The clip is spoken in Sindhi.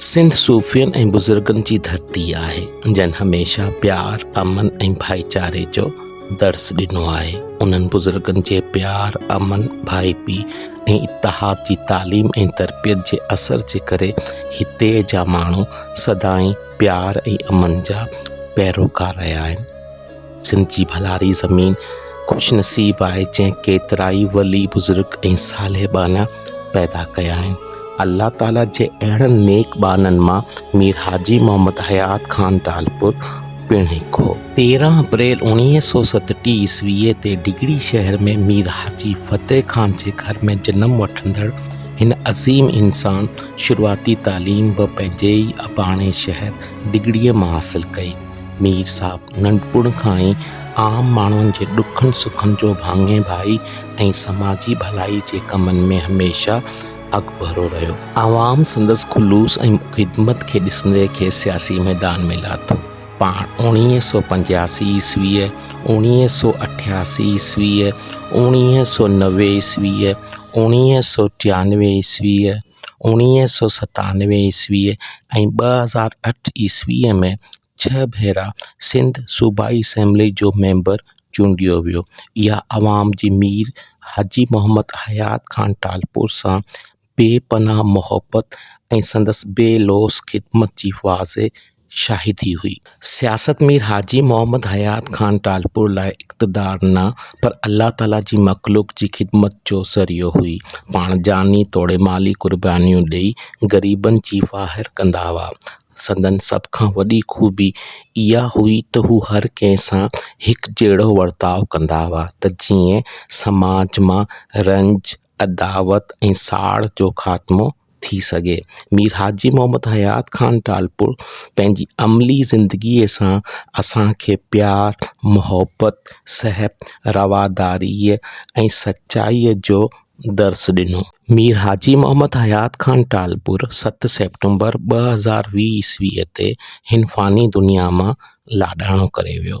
سنڌ صوفين ۽ بزرگن جي ڌرتي آهي، جن هميشه پيار، امن ۽ ڀائيچاري جو درس ڏنو آهي. انهن بزرگن جي پيار، امن، ڀائپي ۽ اتحاد جي تعليم ۽ تربيت جي اثر جي ڪري هتي جا ماڻهو سدائين پيار ۽ امن جا پيروڪار رهيا آهن. سنڌ جي ڀلاري زمين خوش نصيب آهي جنهن ڪيترائي ولي بزرگ ۽ صالح ٻانها پيدا ڪيا آهن الله تعاليٰ جي اهڙن نيڪ ٻانهن مان مير حاجي محمد حيات خان ٽالپور پڻ هڪ هو تيرهن اپريل اوڻيهه سو ستٽيهه عيسويء تي ڊگهڙي شهر ۾ مير حاجي فتح خان جي گهر ۾ جنم وٺندڙ هن عظيم انسان شروعاتي تعليم به پنهنجي ئي اباڻي شهر ڊگهڙيء مان حاصل ڪئي مير صاحب ننڍپڻ کان ئي عام ماڻهن جي ڏکن سکن جو ڀاڱي ڀائي ۽ سماجي ڀلائي جي ڪمن ۾ هميشه اڳڀرو رهيو. عوام سندس خلوص ۽ خدمت کي ڏسندي کيس سياسي ميدان ۾ لاٿو. پاڻ اوڻيهه سؤ پنجياسي عيسويء، اوڻيهه سؤ اٺياسي عيسويء، اوڻيهه سؤ نوي عيسويء، اوڻيهه سؤ ٽيانوي عيسويء، اوڻيهه سئو ستانوي عيسوي ۽ ٻه هزار اٺ عيسوي ۾ ڇهه ڀيرا سنڌ صوبائي اسيمبلي جو ميمبر چونڊيو ويو يا عوام جي مير حاجي محمد حيات خان ٽالپر سان بي پناهه محبت ۽ سندس بي لوث خدمت جي واضح شاهي ٿي هئي. سياست مير حاجي محمد حيات خان ٽالپر لاء اقتدار نه پر الله تعاليٰ جي مخلوق جي خدمت جو ذريعو هئي. پاڻ جاني توڙي مالي قربانيون ڏئي غريبن جي واهر ڪندا هئا. سندن سڀ کان وڏي خوبي اها هئي ته هو هر ڪنهن سان هڪ جهڙو ورتاء ڪندا هئا ته جيئن سماج مان رنج، عداوت ۽ ساڙ جو خاتمو ٿي سگهي. مير حاجي محمد حيات خان ٽالپر پنهنجي عملي زندگي سان اسان کي پيار، محبت، سهپ، رواداري ۽ سچائي جو درس ڏنو. مير حاجي محمد حيات خان ٽالپر ست سيپٽمبر ٻه هزار ويهه عيسويء تي هن فاني دنيا مان لاڏاڻو ڪري ويو.